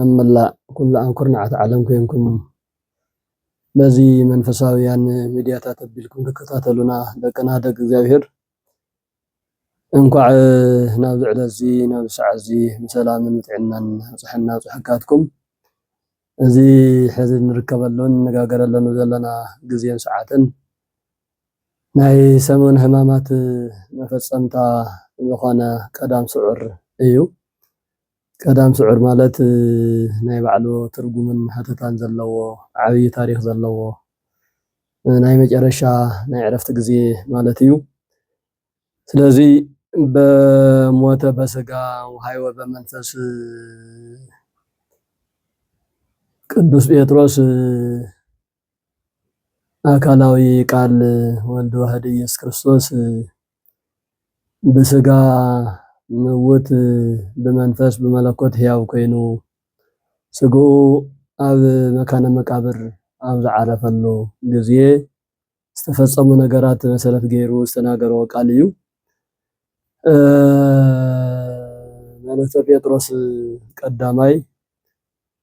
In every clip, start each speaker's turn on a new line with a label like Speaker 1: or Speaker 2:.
Speaker 1: ኣብ መላእ ኩላኣን ኩርናዓት ዓለም ኮንኩም በዚ መንፈሳውያን ሚድያታት ኣቢልኩም ትከታተሉና ደቅና ደቂ እግዚኣብሄር እንኳዕ ናብዚ ዕለት እዚ ናብዚ ሰዓት እዚ ብሰላምን ብጥዕናን ኣብፀሐና ኣብፀሐካትኩም እዚ ሕዚ እንርከበሉን እንነጋገረሉን ዘለና ግዜን ሰዓትን ናይ ሰሙን ህማማት መፈፀምታ ዝኾነ ቀዳም ስዑር እዩ። ቀዳም ስዑር ማለት ናይ ባዕሉ ትርጉምን ሃተታን ዘለዎ ዓብይ ታሪኽ ዘለዎ ናይ መጨረሻ ናይ ዕረፍቲ ግዜ ማለት እዩ። ስለዚ በሞተ በስጋ ወሃይወ በመንፈስ ቅዱስ ጴጥሮስ ኣካላዊ ቃል ወልድ ዋህድ ኢየሱስ ክርስቶስ ብስጋ ምውት ብመንፈስ ብመለኮት ሕያው ኮይኑ ስግኡ ኣብ መካነ መቃብር ኣብ ዝዓረፈሉ ግዜ ዝተፈጸሙ ነገራት መሰረት ገይሩ ዝተናገሮ ቃል እዩ። መልእክተ ጴጥሮስ ቀዳማይ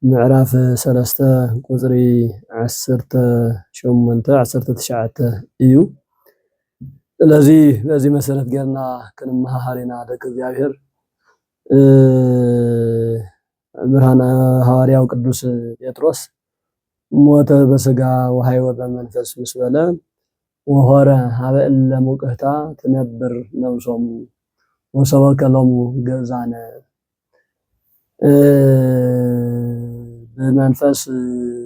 Speaker 1: ምዕራፍ ሰለስተ ቁጽሪ ዓሰርተ ሸሞንተ፣ ዓሰርተ ትሽዓተ እዩ። ስለዚ በዚ መሰረት ጌርና ክንመሃሃር ኢና ደቂ እግዚኣብሔር። ብርሃነ ሃዋርያው ቅዱስ ጴጥሮስ ሞተ በስጋ ወሃይወ በመንፈስ ምስ በለ ወሆረ ሀበ እለ ሙቅህታ ትነብር ነብሶሙ ወሰበከ ሎሙ ግእዛነ ብመንፈስ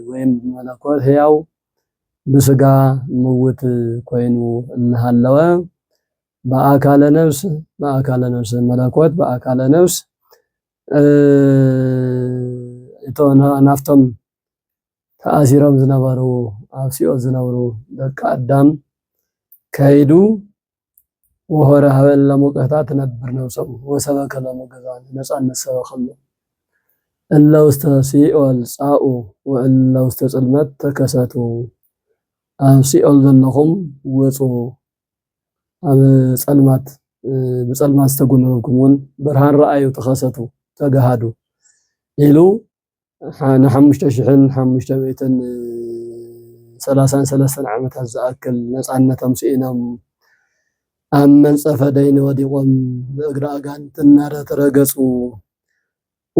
Speaker 1: ወይም ብመለኮት ሕያው ብስጋ ምውት ኮይኑ እናሃለወ ብኣካለ ነፍስ ብኣካለ ነፍስ መለኮት ብኣካለ ነፍስ እቶ ናፍቶም ተኣሲሮም ዝነበሩ ኣብ ሲኦል ዝነብሩ ደቂ ኣዳም ከይዱ ወሆረ ሀበ እለ ሙቀታ ትነብር ነብሶም ወሰበከ ሎሙ ገዛን ነፃነት ሰበኸሎም እለ ውስተ ሲኦል ጻኡ ወእለ ውስተ ጽልመት ተከሰቱ ኣብ ሲኦል ዘለኹም ውፁ ኣብ ጸልማት ብጸልማት ዝተጎነበብኩም እውን ብርሃን ረኣዩ ተኸሰቱ ተጋሃዱ ኢሉ ንሓሙሽተ ሽሕን ሓሙሽተ ሚእትን ሰላሳን ሰለስተን ዓመታት ዝኣክል ነፃነቶም ስኢኖም ኣብ መንፀፈ ደይኒ ወዲቖም ብእግሪ ኣጋንንቲ እናተረገፁ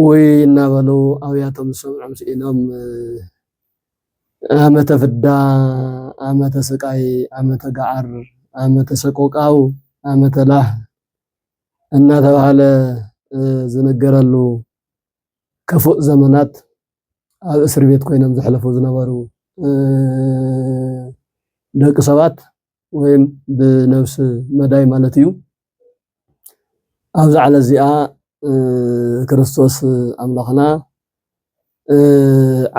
Speaker 1: ኡይ እናበሉ ኣውያቶም ዝሰምዖም ስኢኖም ዓመተ ፍዳ፣ ዓመተ ስቃይ፣ ዓመተ ገዓር፣ ዓመተ ሰቆቃው፣ ዓመተ ላህ እናተባህለ ዝንገረሉ ክፉእ ዘመናት ኣብ እስር ቤት ኮይኖም ዘሕለፉ ዝነበሩ ደቂ ሰባት ወይም ብነብሲ መዳይ ማለት እዩ ኣብዚ ዓለ እዚኣ ክርስቶስ ኣምላኽና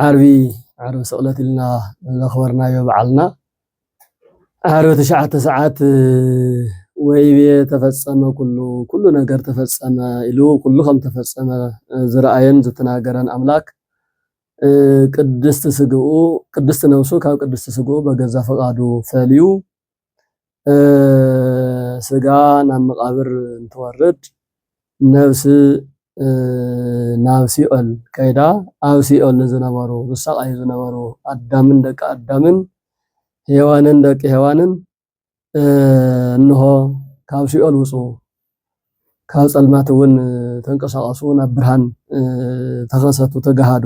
Speaker 1: ዓርቢ ዓርቢ ስቕለት ኢልና ዘኽበርናዮ በዓልና ዓርቢ ትሽዓተ ሰዓት ወይቤ ተፈጸመ ኩሉ ኩሉ ነገር ተፈጸመ ኢሉ ኩሉ ከም ተፈጸመ ዝረኣየን ዝተናገረን ኣምላክ ቅድስቲ ስግኡ ቅድስቲ ነብሱ ካብ ቅድስቲ ስግኡ በገዛ ፈቃዱ ፈልዩ ስጋ ናብ መቃብር እንትወርድ ነብሲ ናብ ሲኦል ከይዳ ኣብ ሲኦል ንዝነበሩ ዝሳቓዩ ዝነበሩ ኣዳምን ደቂ ኣዳምን ሄዋንን ደቂ ሄዋንን እንሆ ካብ ሲኦል ውጹ ካብ ጸልማት እውን ተንቀሳቐሱ ናብ ብርሃን ተኸሰቱ ተጋሃዱ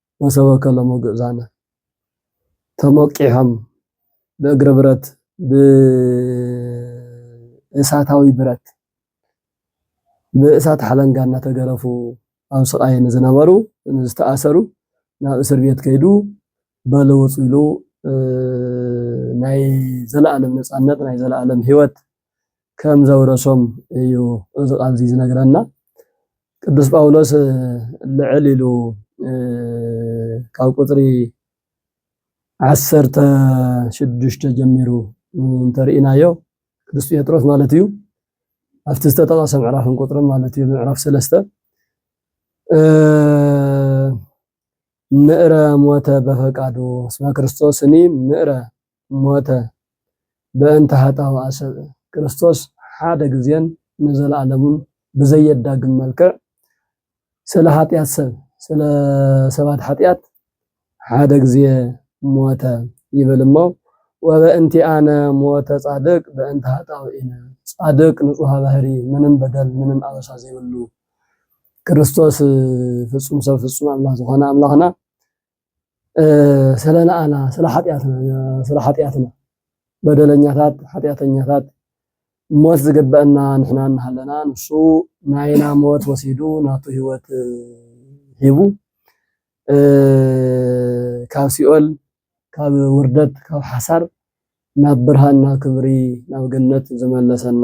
Speaker 1: መሰቦከ ሎሚ ግእዛነ ተሞቂሖም ብእግሪ ብረት ብእሳታዊ ብረት ብእሳት ሓለንጋ እናተገረፉ ኣብ ስቃይ ንዝነበሩ ዝተኣሰሩ ናብ እስር ቤት ከይዱ በሉ ውፁ ኢሉ ናይ ዘለኣለም ነፃነት ናይ ዘለኣለም ሂወት ከም ዘውረሶም እዩ እዚ ቃል እዚ ዝነግረና። ቅዱስ ጳውሎስ ልዕል ኢሉ ካብ ቁፅሪ ዓሰርተ ሽዱሽተ ጀሚሩ እንተርኢናዮ ቅዱስ ጴጥሮስ ማለት እዩ ኣብቲ ዝተጠቐሰ ምዕራፍን ቁፅርን ማለት እዩ ምዕራፍ ሰለስተ ምእረ ሞተ በፈቃዱ እስመ ክርስቶስኒ ምእረ ሞተ በእንተ ኃጣውኣ ሰብእ። ክርስቶስ ሓደ ጊዜን ንዘለዓለሙን ብዘየዳግም መልክዕ ስለ ኃጢኣት ሰብ፣ ስለ ሰባት ኃጢኣት ሓደ ጊዜ ሞተ ይብል እሞ ወበእንቲኣነ ሞተ ጻድቅ በእንተ ኃጣውኢነ ጻድቅ ንጹሐ ባህሪ ምንም በደል ምንም ኣበሳ ዘይብሉ ክርስቶስ ፍጹም ሰብ ፍጹም ኣምላኽ ዝኾነ ኣምላኽና ስለ ንኣና ስለ ሓጢኣትና ስለ ሓጢኣትና በደለኛታት ሓጢኣተኛታት ሞት ዝግበአና ንሕና እናሃለና ንሱ ናይና ሞት ወሲዱ ናቱ ህይወት ሂቡ ካብ ሲኦል ካብ ውርደት ካብ ሓሳር ናብ ብርሃን ናብ ክብሪ ናብ ገነት ዝመለሰና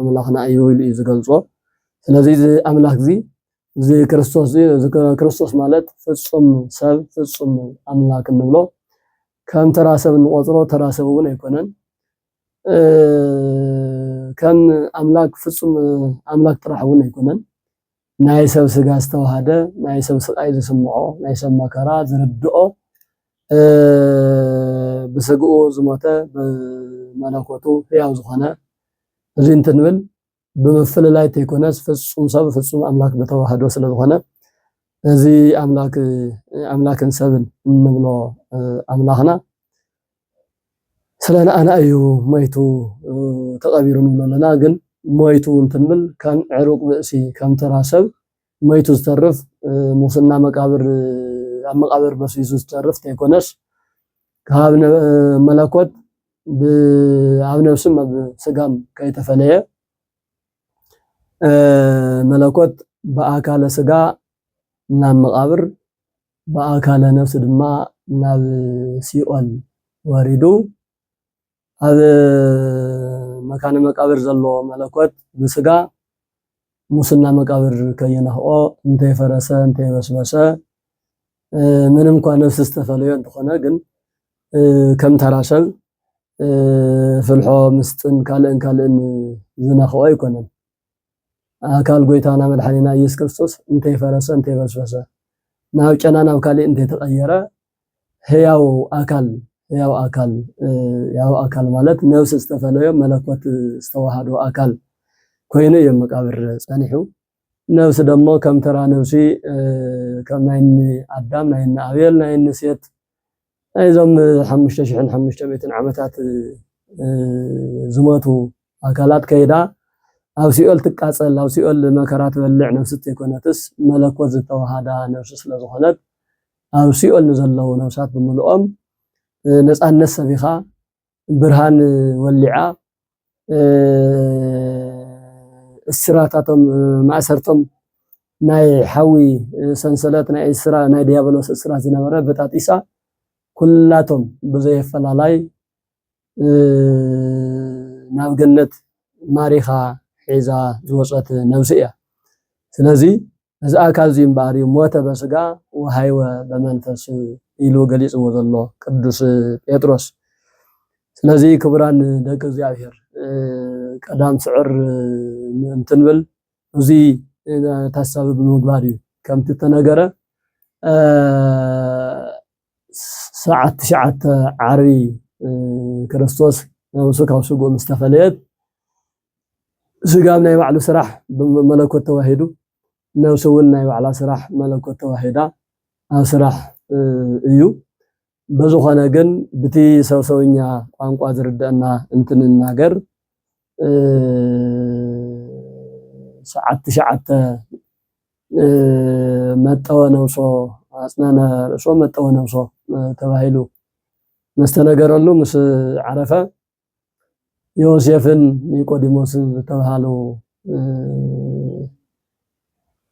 Speaker 1: ኣምላኽና እዩ ኢሉ እዩ ዝገልጾ። ስለዚ እዚ ኣምላኽ እዚ እዚ ክርስቶስ እዚ እዚ ክርስቶስ ማለት ፍጹም ሰብ ፍጹም ኣምላክ እንብሎ ከም ተራ ሰብ እንቆጽሮ ተራ ሰብ እውን ኣይኮነን። ከም ኣምላክ ፍጹም ኣምላክ ጥራሕ እውን ኣይኮነን። ናይ ሰብ ስጋ ዝተዋሃደ ናይ ሰብ ስቃይ ዝስምዖ ናይ ሰብ መከራ ዝርድኦ ብስግኡ ዝሞተ ብመለኮቱ ህያው ዝኾነ እዚ እንትንብል ብምፍልላይ ተይኮነስ ፍፁም ሰብ ፍፁም ኣምላክ ብተዋህዶ ስለዝኾነ እዚ ኣምላክ ኣምላክን ሰብን እንብሎ ኣምላኽና ስለ ንኣና እዩ ሞይቱ ተቐቢሩ ንብሎ ኣለና። ግን ሞይቱ እንትንብል ከም ዕሩቅ ብእሲ ከም ተራ ሰብ መይቱ ዝተርፍ ሙስና መቃብር ኣብ መቃብር በስቢሱ ዝተርፍ ተይኮነስ ካብ መለኮት ኣብ ነብስም ኣብ ስጋም ከይተፈለየ መለኮት ብኣካለ ስጋ ናብ መቃብር ብኣካለ ነብሲ ድማ ናብ ሲኦል ወሪዱ ኣብ መካነ መቃብር ዘሎ መለኮት ብስጋ ሙስና መቃብር ከይነኽኦ እንተይፈረሰ እንተይበስበሰ ምንም እኳ ነፍሲ ዝተፈለዮ እንተኾነ ግን ከም ተራ ሰብ ፍልሖ ምስጥን ካልእን ካልእን ዝነኽኦ ኣይኮነን። ኣካል ጎይታና መድሓኒና ኢየሱስ ክርስቶስ እንተይፈረሰ እንተይበስበሰ ናብ ጨና ናብ ካሊእ እንተይተቀየረ ህያው ኣካል ህያው ኣካል ህያው ኣካል ማለት ነብሲ ዝተፈለዮ መለኮት ዝተዋሃዶ ኣካል ኮይኑ እዩ መቃብር ጸኒሑ። ነብሲ ደሞ ከም ተራ ነብሲ ከም ናይ እኒ ኣዳም ናይ እኒ ኣቤል ናይ እኒ ሴት ናይዞም ሓሙሽተ ሽሕን ሓሙሽተ ሚእትን ዓመታት ዝሞቱ ኣካላት ከይዳ ኣብ ሲኦል ትቃጸል፣ ኣብ ሲኦል መከራ ትበልዕ ነፍሲ እተይኮነትስ መለኮት ዝተወሃዳ ነፍሲ ስለ ዝኾነት ኣብ ሲኦል ንዘለዉ ነፍሳት ብምልኦም ነጻነት ሰቢኻ ብርሃን ወሊዓ እስራታቶም ማእሰርቶም ናይ ሓዊ ሰንሰለት ናይ እስራ ናይ ዲያብሎስ እስራት ዝነበረ በጣጢሳ ኩላቶም ብዘየፈላላይ ናብ ገነት ማሪኻ ሒዛ ዝወፀት ነብሲ እያ። ስለዚ እዚ ኣካል እዚ እምበኣር እዩ ሞተ በስጋ ወሃይወ በመንፈስ ኢሉ ገሊጽዎ ዘሎ ቅዱስ ጴጥሮስ። ስለዚ ክቡራን ደቂ እግዚኣብሔር ቀዳም ስዕር ምእንቲ ንብል እዚ ታሳቢ ብምግባር እዩ ከምቲ ተነገረ ሰዓት ትሽዓተ ዓርቢ ክርስቶስ ነብሱ ካብ ስግኡ ምስ ተፈለየት ስጋብ ናይ ባዕሉ ስራሕ መለኮት ተዋሂዱ፣ ነብሲ እውን ናይ ባዕላ ስራሕ መለኮት ተዋሂዳ ኣብ ስራሕ እዩ። በዝኾነ ግን ብቲ ሰብ ሰውኛ ቋንቋ ዝርደአና እንትንናገር ሰዓት ትሽዓተ መጠወ ነብሶ ኣጽነነ ርእሶ መጠወ ነብሶ ተባሂሉ መስተነገረሉ ምስ ዓረፈ ዮሴፍን ኒቆዲሞስን ዝተብሃሉ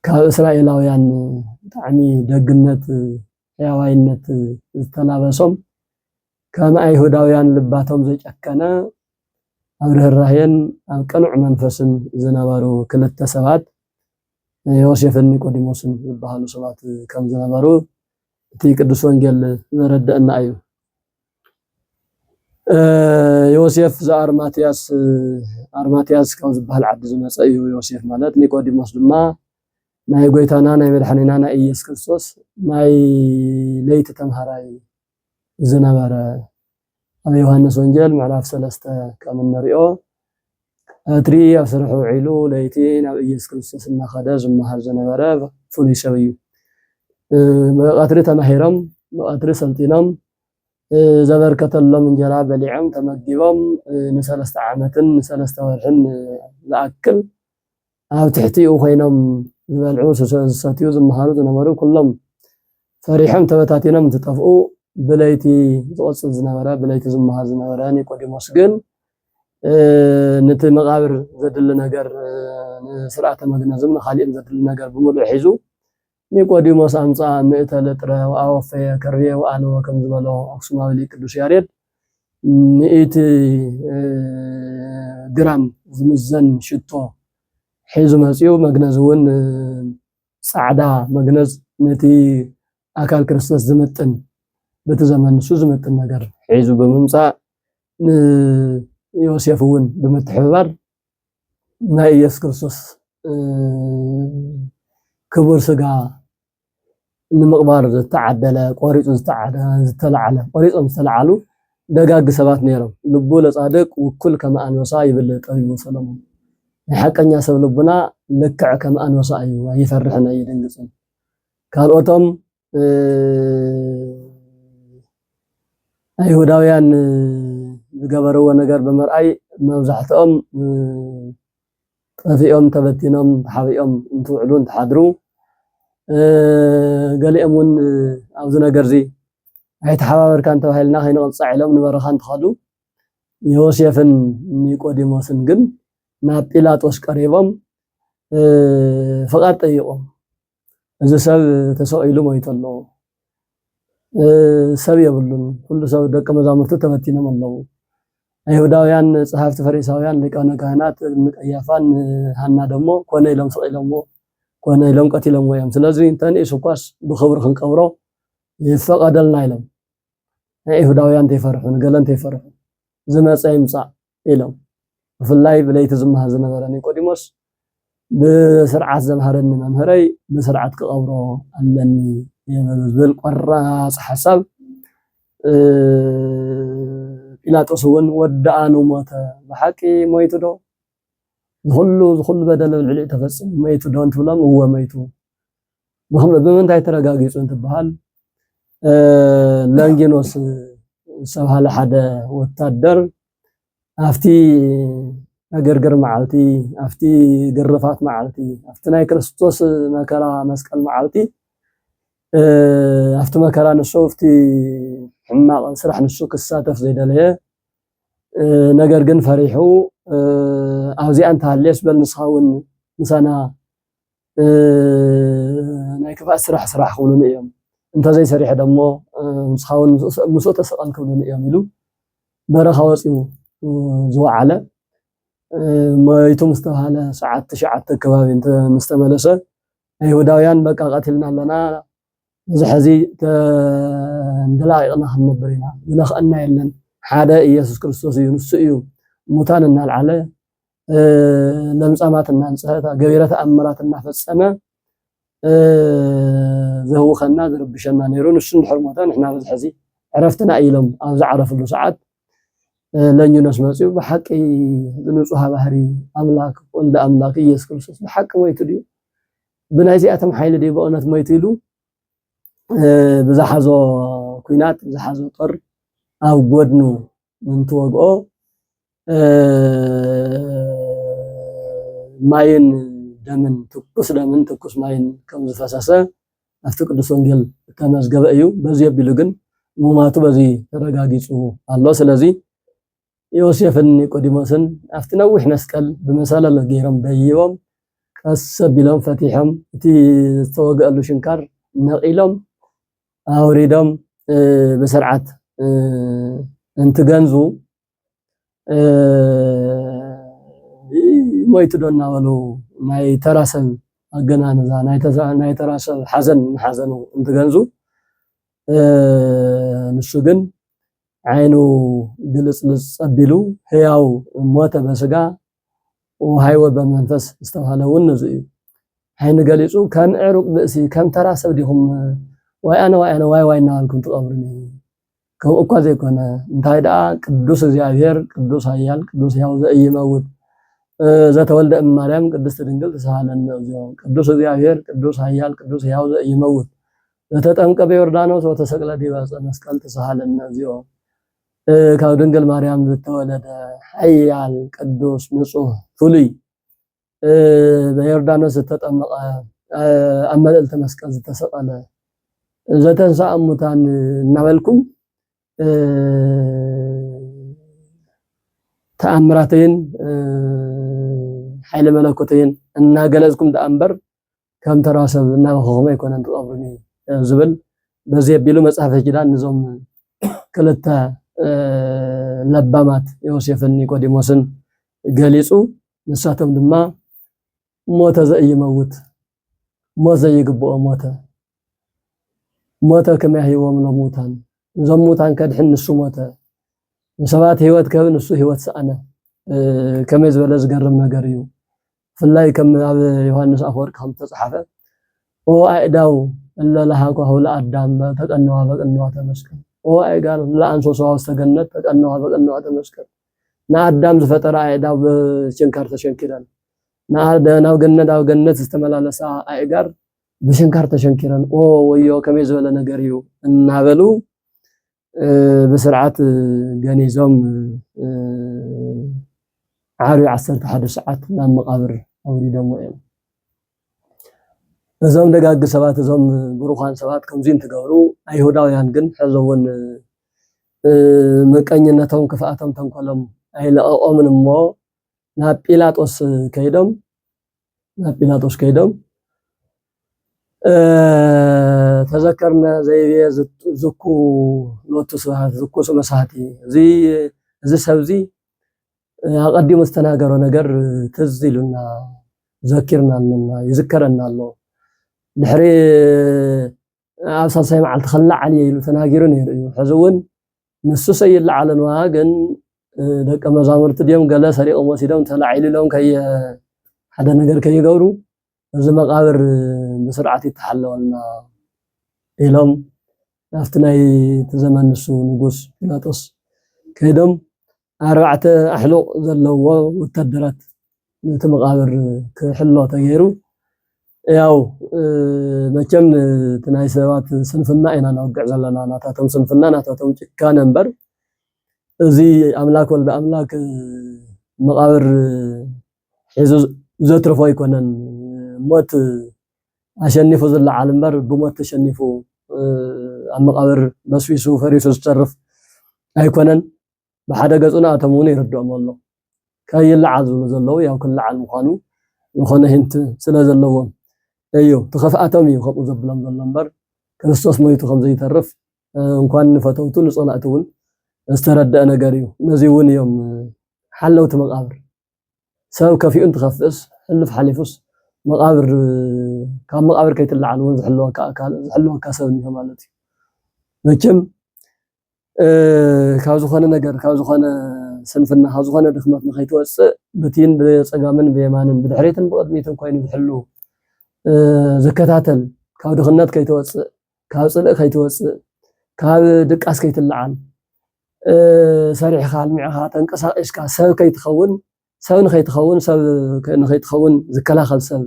Speaker 1: ካብ እስራኤላውያን ብጣዕሚ ደግነት ሕያዋይነት ዝተላበሶም ከም ኣይሁዳውያን ልባቶም ዘጨከነ ኣብ ርኅራኄን ኣብ ቅኑዕ መንፈስን ዝነበሩ ክልተ ሰባት ዮሴፍን ኒቆዲሞስን ዝበሃሉ ሰባት ከም ዝነበሩ እቲ ቅዱስ ወንጌል ዘረደአና እዩ። ዮሴፍ ዘኣርማትያስ ኣርማትያስ ካብ ዝበሃል ዓዲ ዝመፀ እዩ ዮሴፍ ማለት ኒቆዲሞስ ድማ ናይ ጎይታና ናይ መድሓኒና ናይ ኢየሱስ ክርስቶስ ናይ ለይቲ ተምሃራይ ዝነበረ ኣብ ዮሃንስ ወንጌል ምዕራፍ ሰለስተ ከም እንሪኦ እትሪ ኣብ ስርሑ ውዒሉ ለይቲ ናብ ኢየሱስ ክርስቶስ እናኸደ ዝመሃር ዝነበረ ፍሉይ ሰብ እዩ። ብቐትሪ ተማሂሮም ብቐትሪ ሰልጢኖም ዘበርከተሎም እንጀራ በሊዖም ተመጊቦም ንሰለስተ ዓመትን ንሰለስተ ወርሕን ዝኣክል ኣብ ትሕቲኡ ኮይኖም ዝበልዑ ዝሰትዩ ዝመሃሩ ዝነበሩ ኩሎም ፈሪሖም ተበታቲኖም እንትጠፍኡ ብለይቲ ዝቆፅል ዝነበረ ብለይቲ ዝመሃር ዝነበረ ኒቆዲሞስ ግን ነቲ መቃብር ዘድሊ ነገር ንስርዓተ መግነዝም ንካሊእን ዘድሊ ነገር ብምሉእ ሒዙ ኒቆዲሞስ ኣምጽኣ ምእተ ልጥረ ወኣወፈየ ከርቤ ወኣነወ ከም ዝበሎ ኣክሱማዊ ሊቅ ቅዱስ ያሬድ ሚእቲ ግራም ዝምዘን ሽቶ ሒዙ መጺኡ መግነዝ እውን ጻዕዳ መግነዝ ነቲ ኣካል ክርስቶስ ዝምጥን በቲ ዘመን ንሱ ዝምጥን ነገር ሒዙ ብምምጻእ ንዮሴፍ እውን ብምትሕብባር ናይ ኢየሱስ ክርስቶስ ክቡር ስጋ ንምቕባር ዝተዓደለ ቆሪፁ ዝተለዓለ ቆሪፆም ዝተለዓሉ ደጋግ ሰባት ነይሮም። ልቡ ለጻድቅ ውኩል ከም ኣንበሳ ይብል ጠቢቡ ሰሎሞን። ናይ ሓቀኛ ሰብ ልቡና ልክዕ ከም ኣንበሳ እዩ፣ ኣይፈርሕን ኣይድንግፅን። ካልኦቶም ኣይሁዳውያን ዝገበርዎ ነገር ብምርኣይ መብዛሕትኦም ጠፊኦም ተበቲኖም ተሓቢኦም እንትውዕሉ እንትሓድሩ ገሊኦም እውን ኣብዚ ነገር እዚ ኣይተሓባበርካን ተባሂልና ከይንቕፃዕ ኢሎም ንበረኻ እንትኸዱ ዮሴፍን ኒቆዲሞስን ግን ናብ ጲላጦስ ቀሪቦም ፍቓድ ጠይቖም እዚ ሰብ ተሰቒሉ ሞይቱ ኣሎ። ሰብ የብሉን፣ ኩሉ ሰብ ደቀ መዛሙርቱ ተበቲኖም ኣለዉ። ኣይሁዳውያን ጸሓፍቲ ፈሪሳውያን ሊቃነ ካህናት ንቀያፋን ንሃና ደሞ ኮነ ኢሎም ስቒሎምዎ ኮነ ኢሎም ቀቲሎምዎ እዮም። ስለዚ እንተንኢሱ እኳስ ብኽብሪ ክንቀብሮ ይፈቐደልና ኢሎም። ናይ ኣይሁዳውያን እንተይፈርሑ ንገለ እንተይፈርሑ ዝመጸ ይምጻእ ኢሎም። ብፍላይ ብለይቲ ዝመሃር ዝነበረ ኒቆዲሞስ ብስርዓት ዘምሃረኒ መምህረይ ብስርዓት ክቐብሮ ኣለኒ ብዝብል ቆራፅ ሓሳብ ጲላጦስ እውን ወዳኣኑ ሞተ። ብሓቂ ሞይቱ ዶ? ዝኹሉ ዝኹሉ በደል ኣብ ልዕሊኡ ተፈፂሙ ሞይቱ ዶ እንትብሎም እወ ሞይቱ ብምንታይ ተረጋጊፁ እንትበሃል ላንጊኖስ ዝተብሃለ ሓደ ወታደር ኣብቲ ዕግርግር መዓልቲ ኣብቲ ግርፋት መዓልቲ ኣብቲ ናይ ክርስቶስ መከራ መስቀል መዓልቲ ኣብቲ መከራ ንሱ ኣብቲ ሕማቕ ስራሕ ንሱ ክሳተፍ ዘይደለየ ነገር ግን ፈሪሑ ኣብዚኣ እንተሃልየስ በል ንስኻ እውን ምሳና ናይ ክፍኣት ስራሕ ስራሕ ክብሉኒ እዮም፣ እንተዘይሰሪሐ ደሞ ንስኻውን ምስኡ ተሰቐል ክብሉኒ እዮም ኢሉ በረኻ ወፂኡ ዝወዓለ ሞይቱ ምስ ተባህለ ሰዓት ትሽዓተ ከባቢ ምስ ተመለሰ ኣይሁዳውያን በቃ ቀቲልና ኣለና እዚ ሕዚ ተንደላቂቕና ክንነብር ኢና ዝነኽአና የለን ሓደ ኢየሱስ ክርስቶስ እዩ ንሱ እዩ ሙታን እናልዓለ ለምጻማት እናንጽሀ ገቢረ ተኣምራት እናፈጸመ ዘህውኸና ዝርብሸና ነይሩ። ንሱ እንድሕር ሞተ ንሕና በዚ ሕዚ ዕረፍትና ኢሎም ኣብ ዝዓረፍሉ ሰዓት ለኝኖስ መፅኡ ብሓቂ ንፁሃ ባህሪ ኣምላክ ወልደ ኣምላክ ኢየሱስ ክርስቶስ ብሓቂ ሞይቱ ድዩ ብናይ እዚኣቶም ሓይሊ ድዩ ብእውነት ሞይቱ ኢሉ ብዝሓዞ ኩናት ብዝሓዞ ጦር ኣብ ጎድኑ እንትወግኦ ማይን ደምን ትኩስ ደምን ትኩስ ማይን ከም ዝፈሰሰ ኣብቲ ቅዱስ ወንጌል እተመዝገበ እዩ። በዚ ኣቢሉ ግን ሙማቱ በዚ ተረጋጊጹ ኣሎ። ስለዚ ዮሴፍን ኒቆዲሞስን ኣብቲ ነዊሕ መስቀል ብመሰለለ ገይሮም ደይቦም ቀስ ኣቢሎም ፈቲሖም እቲ ዝተወግአሉ ሽንካር ነቒሎም ኣውሪዶም ብስርዓት እንትገንዙ ሞይቱ ዶ እናበሉ ናይ ተራ ሰብ ኣገናንዛ ናይ ተራ ሰብ ሓዘን ሓዘኑ እንትገንዙ ንሱ ግን ዓይኑ ግልፅልፅ ፀቢሉ ህያው ሞተ በስጋ ወሃይወ በመንፈስ ዝተባህለ እውን ነዙ እዩ። ዓይኒ ገሊጹ ከም ዕሩቅ ብእሲ ከም ተራ ሰብ ዲኹም ዋይ ኣነ ዋይ ኣነ ዋይ ዋይ እናበልኩም ትቐብሩኒ? ከምኡ እኳ ዘይኮነ እንታይ ደኣ ቅዱስ እግዚኣብሔር ቅዱስ ኃያል ቅዱስ ሕያው ዘኢይመውት ዘተወልደ እም ማርያም ቅድስት ድንግል ተሳሃለነ እግዚኦ ቅዱስ እግዚኣብሔር ቅዱስ ኃያል ቅዱስ ሕያው ዘኢይመውት ዘተጠምቀ በዮርዳኖስ ወተሰቅለ ዲበ ዕፀ መስቀል ተሳሃለነ እግዚኦ ካብ ድንግል ማርያም ዝተወለደ ሓያል ቅዱስ ንጹህ ፍሉይ በዮርዳኖስ ዝተጠመቐ ኣብ መልዕልቲ መስቀል ዝተሰቐለ ዘተንስኣ ሙታን እናበልኩም ተኣምራተይን ሓይሊ መለኮተይን እናገለጽኩም ደኣ እምበር ከም ተራ ሰብ እናበኸኹመ ኣይኮነን ትቐብሩኒ ዝብል በዚ ኣቢሉ መጽሐፈ ኪዳን ንዞም ክልተ ለባማት ዮሴፍን ኒቆዲሞስን ገሊጹ ንሳቶም ድማ ሞተ ዘኢይመውት ሞት ዘይግብኦ ሞተ ሞተ ከመ ያህይዎም ለሙታን እዞም ሙታን ከድሕን ንሱ ሞተ ንሰባት ህይወት ከብ ንሱ ህይወት ሰኣነ ከመይ ዝበለ ዝገርም ነገር እዩ ብፍላይ ከም ኣብ ዮሃንስ ኣፈወርቅ ከም ዝተጽሓፈ ኦ ኣእዳው እለ ለሃኳሁ ለኣዳም ተቀነዋ በቅንዋተ መስቀል ኦ ኣእጋር እለ አንሶሰዋ ውስተ ገነት ተቀነዋ በቅንዋተ መስቀል ንኣዳም ዝፈጠራ ኣእዳው ብችንካር ተሸንኪረን ናብ ገነት ኣብ ገነት ዝተመላለሳ ኣእጋር ብሽንካር ተሸንኪረን ኦ ወዮ ከመይ ዝበለ ነገር እዩ እናበሉ ብስርዓት ገኒዞም ዓርቢ ዓሰርተ ሓደ ሰዓት ናብ መቓብር ኣውሪዶሞ እዮም። እዞም ደጋግ ሰባት እዞም ብሩኻን ሰባት ከምዚ እንትገብሩ ኣይሁዳውያን ግን ሕዚ እውን ምቀኝነቶም፣ ክፍኣቶም፣ ተንኮሎም ኣይለቐቖምን እሞ ናብ ጲላጦስ ከይዶም ናብ ጲላጦስ ከይዶም ተዘከርነ ዘይቤ ዝኩ ሎቱ ስብሐት ዝኩ ስመ ሳህቲ እዚ ሰብ እዚ ኣቐዲሙ ዝተናገሮ ነገር ትዝ ኢሉና ዘኪርና ኣለና ይዝከረና ኣሎ ድሕሪ ኣብ ሳልሳይ መዓልቲ ክለዓል እየ ኢሉ ተናጊሩ ነይሩ እዩ ሕዚ እውን ንሱሰ ይለዓልን ዋ ግን ደቂ መዛሙርቲ ድዮም ገለ ሰሪቆም ወሲዶም ተላዒሉ ኢሎም ከየ ሓደ ነገር ከይገብሩ እዚ መቃብር ብስርዓት ይተሓለወልና ኢሎም ናብቲ ናይ እቲ ዘመን ንሱ ንጉስ ጲላጦስ ከይዶም ኣርባዕተ ኣሕሉቕ ዘለዎ ወታደራት ነቲ መቓብር ክሕሎ ተገይሩ። ያው መቸም እቲ ናይ ሰባት ስንፍና ኢና ነወግዕ ዘለና፣ ናታቶም ስንፍና ናታቶም ጭካነ እምበር እዚ ኣምላክ ወልደ ኣምላክ መቓብር ሒዙ ዘትርፎ ኣይኮነን። ሞት ኣሸኒፉ ዝለዓል እምበር ብሞት ተሸኒፉ ኣብ መቓብር በስቢሱ ፈሪሱ ዝተርፍ ኣይኮነን። ብሓደ ገፁ ንኣቶም እውን ይርድኦም ኣሎ። ከይለዓል ዝብሉ ዘለዉ ያው ክለዓል ምዃኑ ዝኾነ ሂንት ስለ ዘለዎም እዩ። እቲ ኽፍኣቶም እዩ ከምኡ ዘብሎም ዘሎ እምበር ክርስቶስ ሞይቱ ከም ዘይተርፍ እንኳን ንፈተውቱ ንፀላእቱ እውን ዝተረደኣ ነገር እዩ። ነዚ እውን እዮም ሓለውቲ መቓብር ሰብ ከፊኡ እንትኸፍእስ ሕሉፍ ሓሊፉስ መቓብር ካብ መቓብር ከይትለዓል እውን ዝሕልወካ ኣካል ዝሕልወካ ሰብ እኒሆ ማለት እዩ። መቸም ካብ ዝኾነ ነገር ካብ ዝኾነ ስንፍና ካብ ዝኾነ ድኽመት ንኸይትወፅእ ብቲን ብፀጋምን ብየማንን ብድሕሪትን ብቕድሚትን ኮይኑ ዝሕሉ ዝከታተል ካብ ድኽነት ከይትወፅእ ካብ ፅልእ ከይትወፅእ ካብ ድቃስ ከይትለዓል ሰሪሕኻ ኣልሚዕኻ ተንቀሳቒስካ ሰብ ከይትኸውን ሰብ ንኸይትኸውን ሰብ ንኸይትኸውን ዝከላኸል ሰብ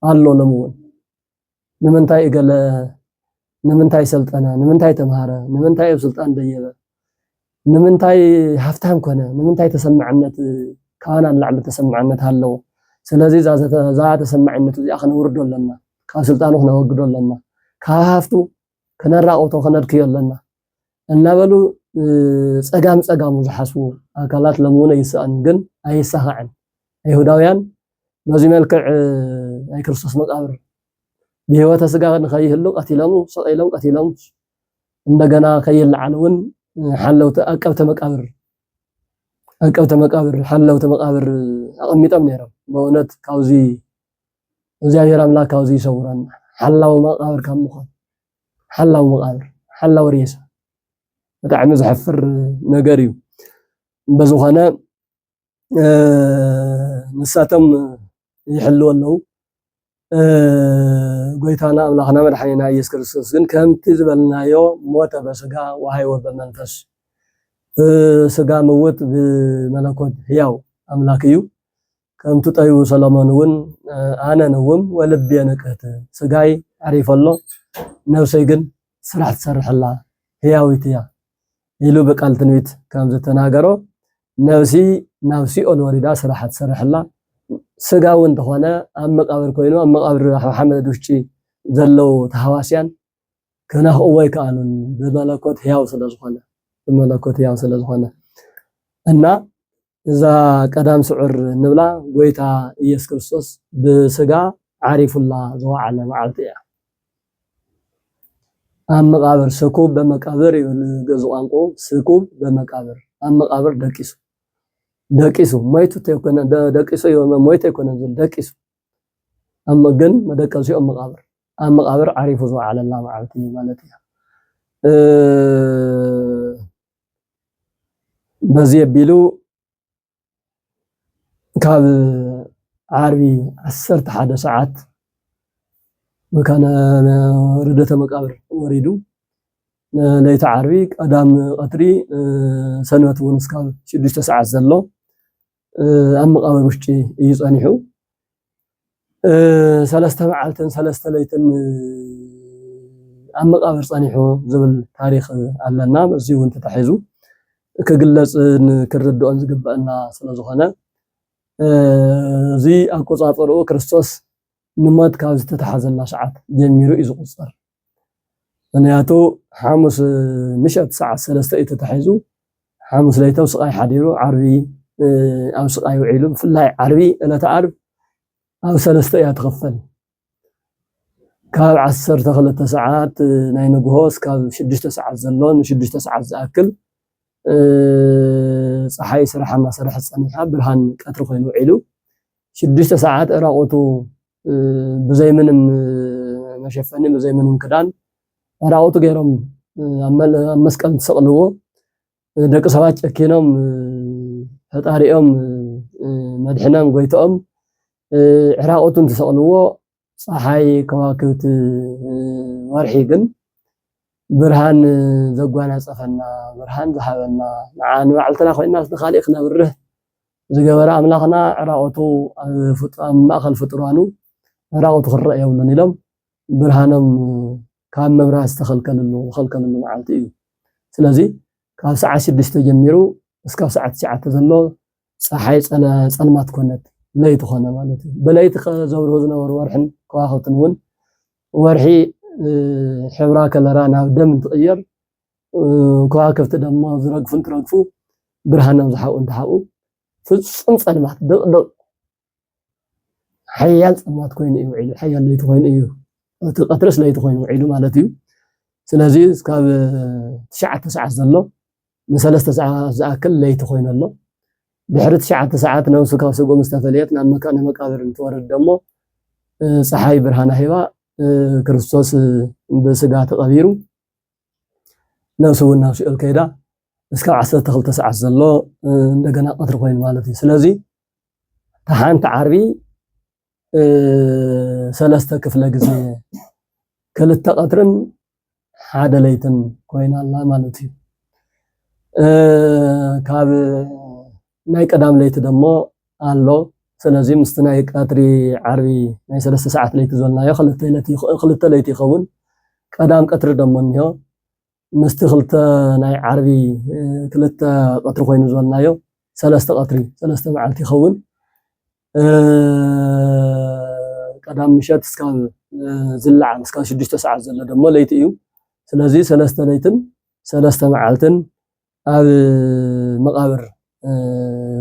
Speaker 1: ኣሎ ሎሚ እውን ንምንታይ እገለ ንምንታይ ሰልጠነ ንምንታይ ተምሃረ ንምንታይ ኣብ ስልጣን ደየበ ንምንታይ ሃፍታም ኮነ ንምንታይ ተሰማዕነት ካባና ንላዕሊ ተሰማዕነት ኣለዎ ስለዚ እዛ ተሰማዕነቱ እዚኣ ክነውርዶ ኣለና ካብ ስልጣኑ ክነወግዶ ኣለና ካብ ሃፍቱ ክነራቑቶ ክነድክዮ ኣለና እናበሉ ጸጋም ጸጋሙ ዝሓስቡ ኣካላት ሎምውን ኣይሳኣን ግን ኣይሳኻዕን ኣይሁዳውያን በዚ መልክዕ ናይ ክርስቶስ መቃብር ብህይወተ ስጋ ንኸይህሉ ቀቲሎሙ ሰቂሎም ቀቲሎም እንደገና ከይለዓል እውን ሓለውቲ ኣቀብተ መቃብር ኣቀብተ መቃብር ሓለውቲ መቃብር ኣቐሚጦም ነይሮም። በእውነት ካብዚ እግዚኣብሔር ኣምላክ ካብዚ ይሰውረና ሓላዊ መቃብር ካብ ምኳን ሓላዊ መቃብር ሓላዊ ሬሳ ብጣዕሚ ዘሕፍር ነገር እዩ በዝኾነ ንሳቶም ይሕልው ኣለው ጎይታና ኣምላኽና መድሓኒና ኢየሱስ ክርስቶስ ግን ከምቲ ዝበልናዮ ሞተ በስጋ ወሃይወ በመንፈስ ስጋ ምውት ብመለኮት ህያው ኣምላክ እዩ ከም ትጠዩ ሰሎሞን እውን ኣነ ንውም ወልብየ ንቅህት ስጋይ ኣዕሪፎ ኣሎ ነብሰይ ግን ስራሕ ትሰርሕ ኣላ ህያዊት እያ ኢሉ ብቃል ትንቢት ከም ዝተናገሮ ነብሲ ናብ ሲኦል ወሪዳ ስራሓ ትሰርሕ ኣላ ስጋ እውን ተኾነ ኣብ መቃብር ኮይኑ ኣብ መቃብር ሓመድ ውሽጢ ዘለው ተሃዋስያን ክነኽእዎ ኣይከኣሉን ብመለኮት ህያው ስለዝኾነ ብመለኮት ህያው ስለዝኾነ እና እዛ ቀዳም ስዑር እንብላ ጎይታ ኢየሱስ ክርስቶስ ብስጋ ዓሪፉላ ዝወዓለ መዓልቲ እያ። ኣብ መቃብር ስኩብ በመቃብር ይብል ገዙ ቋንቋ ስኩብ በመቃብር ኣብ መቃብር ደቂሱ ደቂሱ ሞይቱ ተይኮነ ደቂሱ እዩ ሞይቱ ኣይኮነን ዝብል ደቂሱ ኣብ ግን መደቀሲኦም መቃብር ኣብ መቃብር ዓሪፉ ዝወዓለላ መዓልቲ ማለት እያ በዚ ኣቢሉ ካብ ዓርቢ ዓሰርተ ሓደ ሰዓት መካነ ርደተ መቃብር ወሪዱ ለይቲ ዓርቢ ቀዳም ቀትሪ ሰንበት እውን እስካብ ሽዱሽተ ሰዓት ዘሎ ኣብ መቓብር ውሽጢ እዩ ጸኒሑ። ሰለስተ መዓልትን ሰለስተ ለይትን ኣብ መቓብር ጸኒሑ ዝብል ታሪኽ ኣለና። እዚ እውን ተታሒዙ ክግለጽን ክንርድኦን ዝግበአና ስለ ዝኾነ እዚ ኣቆጻጽርኡ ክርስቶስ ንሞት ካብ ዝተታሓዘላ ሰዓት ጀሚሩ እዩ ዝቑጸር። ምኽንያቱ ሓሙስ ምሸት ሰዓት ሰለስተ እዩ ተታሒዙ ሓሙስ ለይቲ ኣብ ስቃይ ሓዲሩ ዓርቢ ኣብ ስቃይ ውዒሉ ብፍላይ ዓርቢ ዕለተ ዓርብ ኣብ ሰለስተ እያ ትኽፈል ካብ ዓሰርተ ክልተ ሰዓት ናይ ንግሆ እስካብ ሽዱሽተ ሰዓት ዘሎ ንሽዱሽተ ሰዓት ዝኣክል ፀሓይ ስራሓ እናሰርሐት ፀኒሓ ብርሃን ቀትሪ ኮይኑ ውዒሉ ሽዱሽተ ሰዓት ዕራቁቱ ብዘይ ምንም መሸፈኒ ብዘይ ምንም ክዳን ራቁቱ ገይሮም ኣብ መስቀል እንትሰቅልዎ ደቂ ሰባት ጨኪኖም ፈጣሪኦም መድሕኖም ጎይቶኦም ዕራቁቱ እንትሰቅልዎ ፀሓይ ከዋክብቲ ወርሒ ግን ብርሃን ዘጓናፀፈና ብርሃን ዝሃበና ንዓ ንባዕልትና ኮይና ንካሊእ ክነብርህ ዝገበረ ኣምላኽና ዕራቁቱ ኣብ ማእከል ፍጡራኑ ዕራቁቱ ክረኣ የብሉን ኢሎም ብርሃኖም ካብ ምብራህ ዝተኸልከልሉ ዝኸልከልሉ መዓልቲ እዩ። ስለዚ ካብ ሰዓት ሽዱሽተ ጀሚሩ እስካብ ሰዓት ትሽዓተ ዘሎ ፀሓይ ፀልማት ኮነት ለይቲ ኮነ ማለት እዩ። ብለይቲ ዘብርሁ ዝነበሩ ወርሕን ከዋኽብትን እውን ወርሒ ሕብራ ከለራ ናብ ደም እንትቕየር ከዋክብቲ ደሞ ዝረግፉ እንትረግፉ ብርሃኖም ዝሓብኡ እንትሓብኡ ፍፁም ፀልማት ድቕድቕ ሓያል ፀልማት ኮይኑ እዩ ውዒሉ ሓያል ለይቲ ኮይኑ እዩ እቲ ቀትርስ ለይቲ ኮይኑ ውዒሉ ማለት እዩ ስለዚ ካብ ትሽዓተ ሰዓት ዘሎ ንሰለስተ ሰዓት ዝኣክል ለይቲ ኮይኑ ኣሎ ድሕሪ ትሽዓተ ሰዓት ነብሱ ካብ ስጉም ዝተፈለየት ናብ መካነ መቃብር እንትወርድ ደሞ ፀሓይ ብርሃና ሂባ ክርስቶስ ብስጋ ተቐቢሩ ነብሱ እውን ናብ ሲኦል ከይዳ እስካብ ዓሰርተ ክልተ ሰዓት ዘሎ እንደገና ቀትሪ ኮይኑ ማለት እዩ ስለዚ ሓንቲ ዓርቢ ሰለስተ ክፍለ ግዜ ክልተ ቀትርን ሓደ ለይትን ኮይና ኣላ ማለት እዩ ካብ ናይ ቀዳም ለይቲ ደሞ ኣሎ ሰለዚ ምስቲ ናይ ቀትሪ ዓርቢ ናይ ሰለስተ ሰዓት ለይቲ ዘልናዮ ክልተ ለይቲ ክልተ ለይቲ ይኸውን ቀዳም ቀትሪ ደሞ እንሆ ምስቲ ክልተ ናይ ዓርቢ ክልተ ቀትሪ ኮይኑ ዘልናዮ ሰለስተ ቀትሪ ሰለስተ መዓልቲ ይኸውን ቀዳም ምሸት እስካብ ዝለዓል እስካብ ሽዱሽተ ሰዓት ዘሎ ደሞ ለይቲ እዩ ስለዚ ሰለስተ ለይትን ሰለስተ መዓልትን ኣብ መቓብር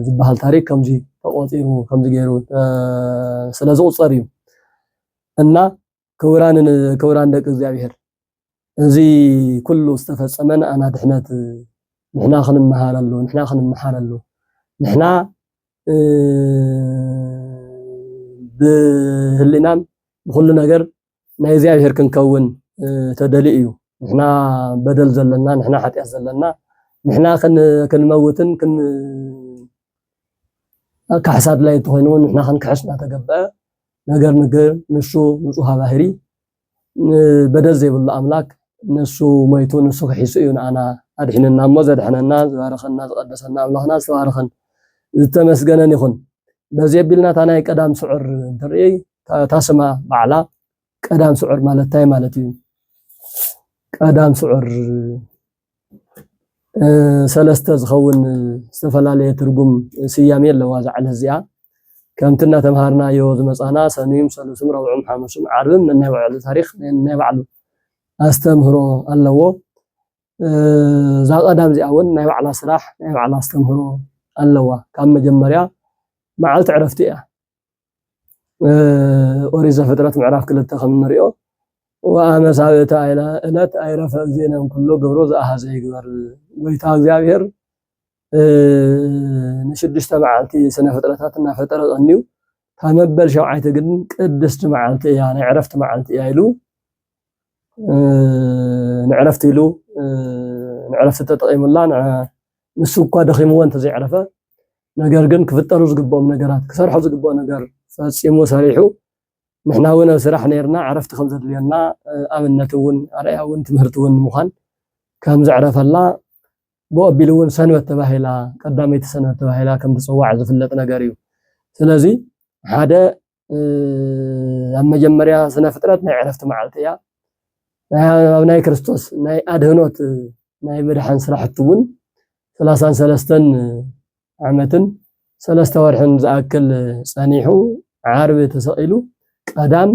Speaker 1: ዝበሃል ታሪክ ከምዚ ተቖጺሩ ከምዚ ገይሩ ስለ ዝቑጸር እዩ እና ክቡራን ክቡራን ደቂ እግዚኣብሔር እዚ ኩሉ ዝተፈጸመ ንኣና ድሕነት ንሕና ክንመሃረሉ ንሕና ክንመሓረሉ ንሕና ብህሊናን ብኩሉ ነገር ናይ እግዚኣብሔር ክንከውን ተደልዩ እዩ። ንሕና በደል ዘለና ንሕና ሓጢኣት ዘለና ንሕና ክንመውትን ካሕሳድ ላይ እንትኾይኑ ንሕና ክንክሕስ እናተገበአ ነገር ንግር ንሱ ንፁሃ ባህሪ በደል ዘይብሉ ኣምላክ ንሱ ሞይቱ ንሱ ክሒሱ እዩ ንኣና ኣድሒንና እሞ ዘድሐነና ዝባረኸና ዝቀደሰና ኣምላኽና ዝተባረኸን ዝተመስገነን ይኹን። በዚ ኣቢልና እታ ናይ ቀዳም ስዑር እንትርኢ እታ ስማ ባዕላ ቀዳም ስዑር ማለት እንታይ ማለት እዩ? ቀዳም ስዑር ሰለስተ ዝኸውን ዝተፈላለየ ትርጉም ስያሜ ኣለዋ እዛ ዕለት እዚኣ። ከምቲ እናተምሃርናዮ ዝመፃና ሰኑይም ሰሉስም ረብዑም ሓሙስም ዓርብም ነናይ ባዕሉ ታሪክ ነናይ ባዕሉ ኣስተምህሮ ኣለዎ እዛ ቀዳም እዚኣ እውን ናይ ባዕላ ስራሕ ናይ ባዕላ ኣስተምህሮ ኣለዋ ካብ መጀመርያ መዓልቲ ዕረፍቲ እያ ኦሪት ዘፍጥረት ምዕራፍ ክልተ ከም እንሪኦ ወኣመ ሳብዕቲ ዕለት ኣይረፈ እግዚእነ ኩሎ ግብሮ ዘኣሃዘ ይግበር ጎይታ እግዚኣብሔር ንሽዱሽተ መዓልቲ ስነ ፍጥረታት እናፈጠረ ቀንዩ ካብ መበል ሸውዓይቲ ግን ቅድስቲ መዓልቲ እያ ናይ ዕረፍቲ መዓልቲ እያ ኢሉ ንዕረፍቲ ኢሉ ንዕረፍቲ ተጠቂሙላ ንሱ እኳ ደኺምዎ እንተዘይዕረፈ ነገር ግን ክፍጠሩ ዝግብኦም ነገራት ክሰርሖ ዝግብኦ ነገር ፈፂሙ ሰሪሑ ንሕና እውን ኣብ ስራሕ ነርና ዕረፍቲ ከም ዘድልየና ኣብነት እውን ኣርኣያ እውን ትምህርቲ እውን ንምዃን ከም ዘዕረፈላ ብኡ ኣቢሉ እውን ሰንበት ተባሂላ ቀዳመይቲ ሰንበት ተባሂላ ከም ትፅዋዕ ዝፍለጥ ነገር እዩ። ስለዚ ሓደ ኣብ መጀመርያ ስነ ፍጥረት ናይ ዕረፍቲ መዓልቲ እያ ኣብ ናይ ክርስቶስ ናይ ኣድህኖት ናይ ምድሓን ስራሕቲ እውን ሰላሳን ሰለስተን ዓመትን ሰለስተ ወርሕን ዝኣክል ጸኒሑ ዓርቢ ተሰቂሉ ቀዳም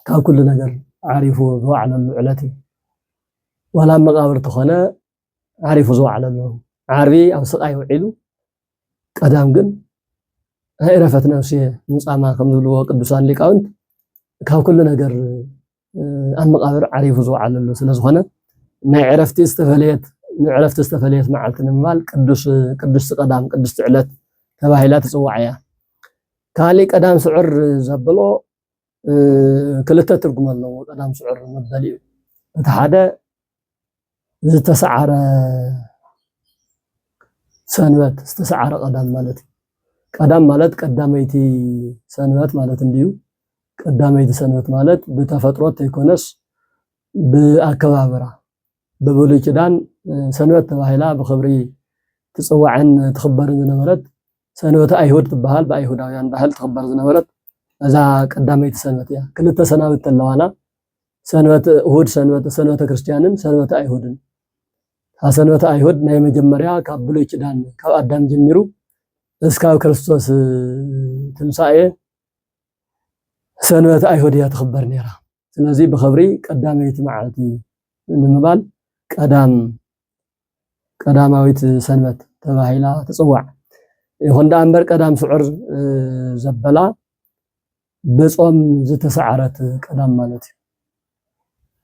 Speaker 1: ካብ ኩሉ ነገር ዓሪፉ ዝዋዕለሉ ዕለት እዩ ዋላ መቃብር ተኾነ ዓሪፉ ዝወዓለ ኣሎ ዓርቢ ኣብ ስቃይ ውዒሉ ቀዳም ግን ናይ እረፈት ነፍሲ ሙፃማ ከም ዝብልዎ ቅዱሳን ሊቃውንት ካብ ኩሉ ነገር ኣብ መቃብር ዓሪፉ ዝወዓለ ኣሎ ስለዝኾነ ናይ ዕረፍቲ ዝተፈለየት ንዕረፍቲ ዝተፈለየት መዓልቲ ንምባል ቅዱስ ቅዱስ ቀዳም ቅዱስ ዕለት ተባሂላ ትፅዋዕ እያ ካሊእ ቀዳም ስዑር ዘብሎ ክልተ ትርጉም ኣለዎ ቀዳም ስዑር መበሊኡ እቲ ሓደ ዝተሰዓረ ሰንበት ዝተሰዓረ ቀዳም ማለት እዩ ቀዳም ማለት ቀዳመይቲ ሰንበት ማለት እንድዩ ቀዳመይቲ ሰንበት ማለት ብተፈጥሮ ተይኮነስ ብኣከባብራ ብብሉይ ኪዳን ሰንበት ተባሂላ ብክብሪ ትፅዋዕን ትኽበርን ዝነበረት ሰንበተ ኣይሁድ ትበሃል ብኣይሁዳውያን ባህል ትኽበር ዝነበረት እዛ ቀዳመይቲ ሰንበት እያ። ክልተ ሰናብት ተለዋና ሰንበት እሁድ ሰንበት ሰንበተ ክርስትያንን ሰንበተ ኣይሁድን ካብ ሰንበተ ኣይሁድ ናይ መጀመርያ ካብ ብሉይ ኪዳን ካብ ኣዳም ጀሚሩ እስካብ ክርስቶስ ትንሳኤ ሰንበት ኣይሁድ እያ ትኽበር ነይራ። ስለዚ ብኽብሪ ቀዳመይቲ መዓልቲ ንምባል ቀዳም ቀዳማዊት ሰንበት ተባሂላ ትፅዋዕ። ይኹን ደኣ እምበር ቀዳም ስዑር ዘበላ ብጾም ዝተሰዓረት ቀዳም ማለት እዩ።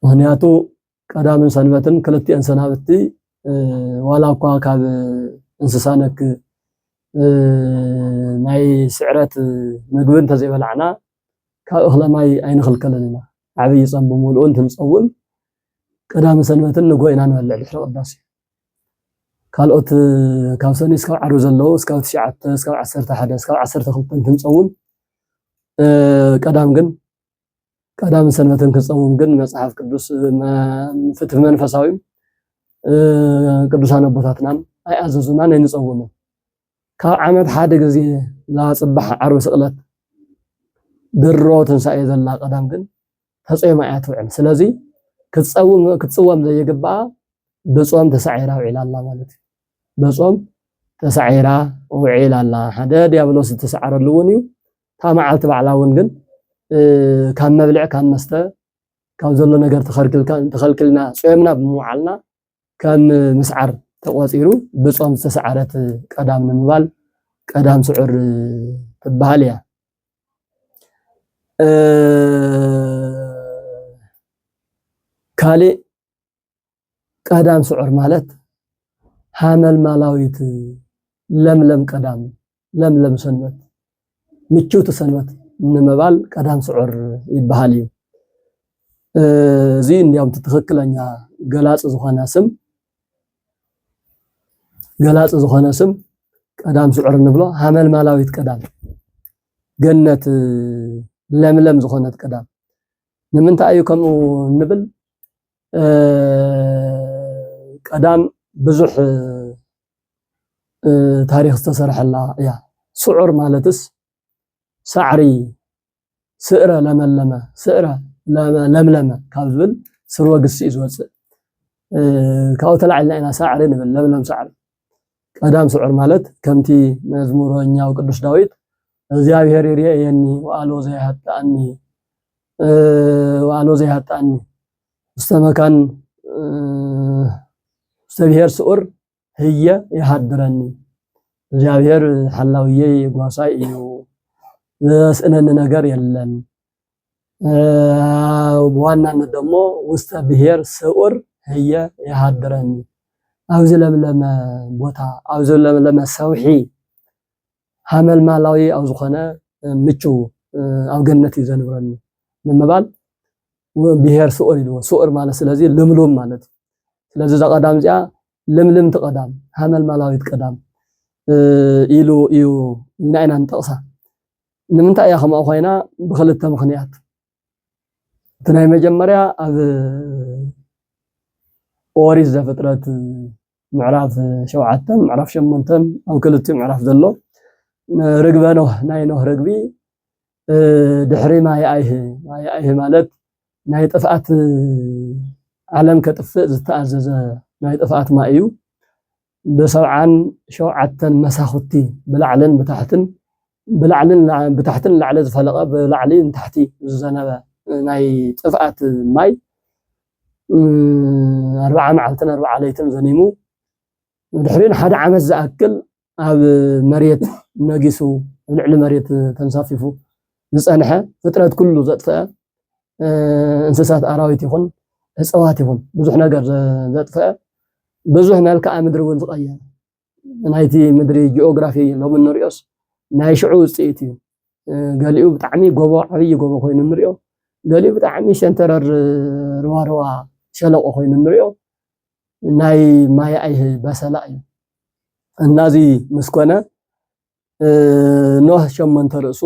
Speaker 1: ምክንያቱ ቀዳምን ሰንበትን ክልቲኤን ሰናብቲ ዋላ እኳ ካብ እንስሳ ነክ ናይ ስዕረት ምግቢ እንተዘይበላዕና ካብ እኽለ ማይ ኣይንኽልከልን ኢና ዓብይ ፆም ብምልኡ እንትንፀውም ቀዳሚ ሰንበትን ንጎ ኢና ንበልዕ ድሕሪ ቅዳሴ ካልኦት ካብ ሰኒ እስካብ ዓርቢ ዘለዉ እስካብ ትሽዓተ እስካብ ዓሰርተ ሓደ እስካብ ዓሰርተ ክልተ እንትንፀውም ቀዳም ግን ቀዳምን ሰንበትን ክፀውም ግን መፅሓፍ ቅዱስ ፍትህ መንፈሳዊ ቅዱሳን ኣቦታትና ኣይኣዘዙናን ኣይንፀውምን። ካብ ዓመት ሓደ ግዜ ላፅባሕ ዓርቢ ስቕለት ድሮ ትንሳኤ ዘላ ቀዳም ግን ተፀይማ እያ ትውዕል። ስለዚ ክትፅወም ዘይግባኣ ብፆም ተሳዒራ ውዒላ ኣላ ማለት እዩ። ብፆም ተሳዒራ ውዒላ ኣላ ሓደ ዲያብሎስ ዝተሰዓረሉ እውን እዩ። እታ መዓልቲ ባዕላ እውን ግን ካብ መብልዕ ካብ መስተ ካብ ዘሎ ነገር ተኸልኪልና ጾምና ብምውዓልና ከም ምስዓር ተቆፂሩ ብጾም ዝተሰዓረት ቀዳም ንምባል ቀዳም ስዑር ትበሃል እያ። ካልእ ቀዳም ስዑር ማለት ሃመልማላዊት ለምለም ቀዳም፣ ለምለም ሰንበት፣ ምችውቲ ሰንበት ንምባል ቀዳም ስዑር ይበሃል እዩ። እዚ እንዲያውም ትክክለኛ ገላፂ ዝኾነ ስም ገላፂ ዝኾነ ስም ቀዳም ስዑር ንብሎ ሃመልማላዊት ቀዳም ገነት ለምለም ዝኾነት ቀዳም ንምንታይ እዩ ከምኡ ንብል ቀዳም ብዙሕ ታሪኽ ዝተሰርሐላ እያ። ስዑር ማለትስ ሳዕሪ ስእረ ለመለመ ስእረ ለምለመ ካብ ዝብል ስርወ ግሲ እዩ ዝወፅእ። ካብኡ ተላዒልና ኢና ሳዕሪ ንብል ለምለም ሳዕሪ ቀዳም ስዑር ማለት ከምቲ መዝሙረኛው ቅዱስ ዳዊት እግዚኣብሔር ይርኤየኒ ወኣልቦ ዘይሃጣኒ ወኣልቦ ዘይሃጣኒ ውስተ መካን ውስተ ብሔር ስዑር ህየ ይሃድረኒ እግዚኣብሔር ሓላውየይ ጓሳይ እዩ ዘስእነኒ ነገር የለን ብዋናነት ደሞ ውስተ ብሔር ስዑር ህየ የሃድረኒ ኣብዚ ለምለመ ቦታ ኣብዚ ለምለመ ሰውሒ ሃመልማላዊ ኣብ ዝኾነ ምቹው ኣብ ገነት እዩ ዘንብረኒ ንምባል ብሔር ስዑር ኢልዎ ስዑር ማለት ስለዚ ልምሉም ማለት እዩ ስለዚ እዛ ቀዳም እዚኣ ልምልምቲ ቀዳም ሃመልማላዊት ቀዳም ኢሉ እዩ ኢልና ኢና ንጠቕሳ ንምንታይ እያ ከምኡ ኮይና ብክልተ ምክንያት እቲ ናይ መጀመርያ ኣብ ኦሪት ዘፍጥረት ምዕራፍ ሸውዓተን ምዕራፍ ሸሞንተን ኣብ ክልቲኡ ምዕራፍ ዘሎ ርግበ ኖህ ናይ ኖህ ርግቢ ድሕሪ ማይ ኣይህ ማይ ኣይህ ማለት ናይ ጥፍኣት ዓለም ከጥፍእ ዝተኣዘዘ ናይ ጥፍኣት ማይ እዩ ብሰብዓን ሸውዓተን መሳኹቲ ብላዕልን ብታሕትን ብላዕልን ብታሕትን ንላዕሊ ዝፈለቐ ብላዕሊ ንታሕቲ ዝዘነበ ናይ ጥፍኣት ማይ ኣርብዓ መዓልትን ኣርብዓ ለይትን ዘኒሙ ድሕሪኡ ንሓደ ዓመት ዝኣክል ኣብ መሬት ነጊሱ ልዕሊ መሬት ተንሳፊፉ ዝጸንሐ ፍጥረት ኩሉ ዘጥፈኣ እንስሳት ኣራዊት ይኹን እጸዋት ይኹን ብዙሕ ነገር ዘጥፈኣ ብዙሕ መልክዓ ምድሪ እውን ዝቐየረ ናይቲ ምድሪ ጂኦግራፊ ሎሚ እንሪኦስ ናይ ሽዑ ውፅኢት እዩ ገሊኡ ብጣዕሚ ጎቦ ዓብዪ ጎቦ ኮይኑ ንሪኦ ገሊኡ ብጣዕሚ ሸንተረር ርዋርዋ ሸለቆ ኮይኑ ንሪኦ ናይ ማይ ኣይህ በሰላ እዩ እና እዚ ምስ ኮነ ኖህ ሸሞንተ ርእሱ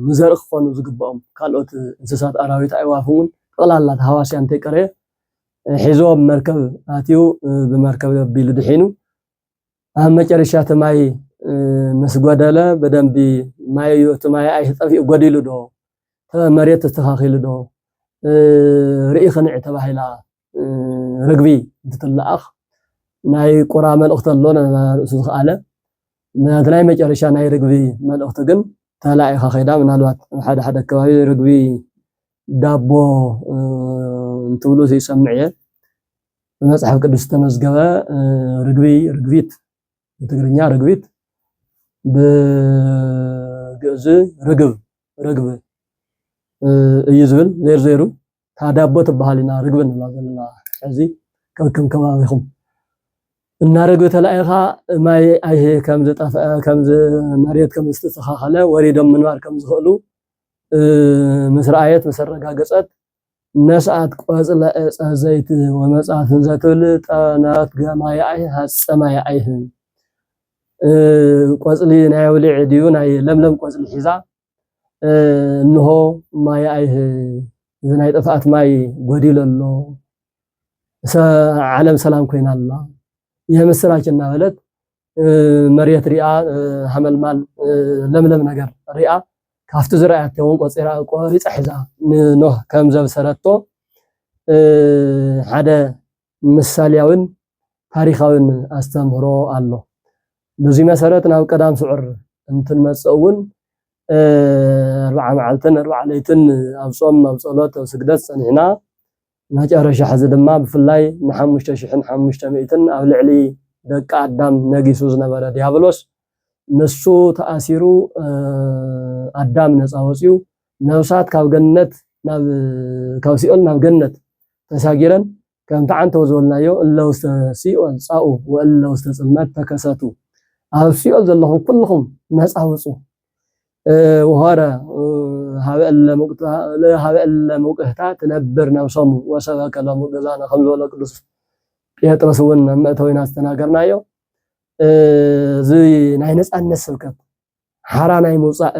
Speaker 1: ንዘርኢ ክኾኑ ዝግብኦም ካልኦት እንስሳት፣ ኣራዊት፣ ኣዕዋፍ እውን ጠቕላላ ተሃዋስያ እንተይቀረየ ሒዞ ኣብ መርከብ ኣትዩ ብመርከብ ኣቢሉ ድሒኑ ኣብ መጨረሻ እቲ ማይ ምስ ጎደለ ብደንቢ ማይ እዩ እቲ ማይ ኣይ ጠፊኡ ጎዲሉ ዶ መሬት ተስተኻኺሉ ዶ ርኢ ክንዕ ተባሂላ ርግቢ እንትትለኣኽ ናይ ቁራ መልእኽቲ ኣሎ ርእሱ ዝኸኣለ ናቲ ናይ መጨረሻ ናይ ርግቢ መልእኽቲ ግን ተላኢኻ ከይዳ ምናልባት ኣብ ሓደ ሓደ ከባቢ ርግቢ ዳቦ እንትብሉ ዘይሰምዕ እየ ብመፅሓፍ ቅዱስ ዝተመዝገበ ርግቢ ርግቢት ብትግርኛ ርግቢት ብግእዝ ርግብ ርግብ እዩ ዝብል ዜርዜሩ እታ ዳቦ ትበሃል ኢና ርግቢ ንብላ ዘለና ሕዚ ከከም ከባቢኹም እና ርግቢ ተላኢኻ ማይ ኣይሂ ከም ዝጠፍአ ከም መሬት ከም ዝተስተኻኸለ ወሪዶም ምንባር ከም ዝኽእሉ ምስ ረኣየት ምስ ኣረጋገጸት ነስኣት ቆጽለ ዕፀ ዘይት ወመጽኣት እንዘትብል ጠነት ገማይ ኣይህ ሃፀማይ ኣይህ ቆጽሊ ናይ ውልዒ ድዩ ናይ ለምለም ቆጽሊ ሒዛ እንሆ ማይ ኣይህ እዚ ናይ ጥፍኣት ማይ ጎዲሎ ኣሎ፣ ዓለም ሰላም ኮይና ኣላ፣ ይህ ምስራች እናበለት መሬት ሪኣ ሃመልማል ለምለም ነገር ሪኣ ካብቲ ዝረኣያቶ እውን ቆፂራ ቆሪፃ ሒዛ ንኖህ ከም ዘብሰረቶ ሓደ ምሳልያዊን ታሪኻዊን ኣስተምህሮ ኣሎ። በዙይ መሰረት ናብ ቀዳም ስዑር እንትንመፅእ እውን ኣርብዓ መዓልትን ኣርብዓ ለይትን ኣብ ፆም፣ ኣብ ፀሎት፣ ኣብ ስግደት ፀኒዕና መጨረሻ ሕዚ ድማ ብፍላይ ንሓሙሽተ ሽሕን ሓሙሽተ ሚእትን ኣብ ልዕሊ ደቂ ኣዳም ነጊሱ ዝነበረ ዲያብሎስ ንሱ ተኣሲሩ ኣዳም ነፃ ወፅዩ ነፍሳት ካብ ገነት ናብ ካብ ሲኦል ናብ ገነት ተሳጊረን ከምቲ ዓንተው ዝበልናዮ እለ ውስተ ሲኦል ጻኡ ወእለ ውስተ ጽልመት ተከሰቱ ኣብ ሲኦል ዘለኹም ኩልኹም ነጻ ውጹ ወሆረ ሃበ እለ ምውቅህታ ትነብር ነብሶም ወሰበከ ሎሙ ገዛነ ከም ዝበሎ ቅዱስ ጴጥሮስ እውን ኣብ መእተዊና ዝተናገርናዮ እዚ ናይ ነጻነት ስብከት ሓራ ናይ ምውፃእ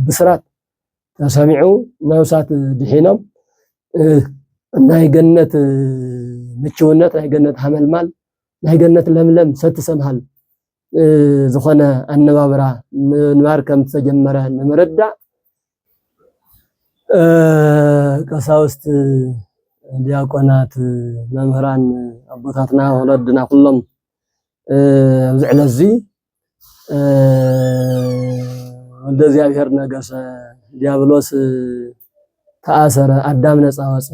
Speaker 1: ብስራት ተሰሚዑ ነብሳት ድሒኖም ናይ ገነት ምችውነት ናይ ገነት ሃመልማል ናይ ገነት ለምለም ሰቲ ሰምሃል ዝኾነ ኣነባብራ ምንባር ከም ዝተጀመረ ንምርዳእ ቀሳውስት፣ ዲያቆናት፣ መምህራን ኣቦታትና ወለድና ኩሎም ኣብዚ ዕለት እዚ ወልደ እግዚኣብሔር ነገሰ፣ ዲያብሎስ ተኣሰረ፣ ኣዳም ነፃ ወፀ፣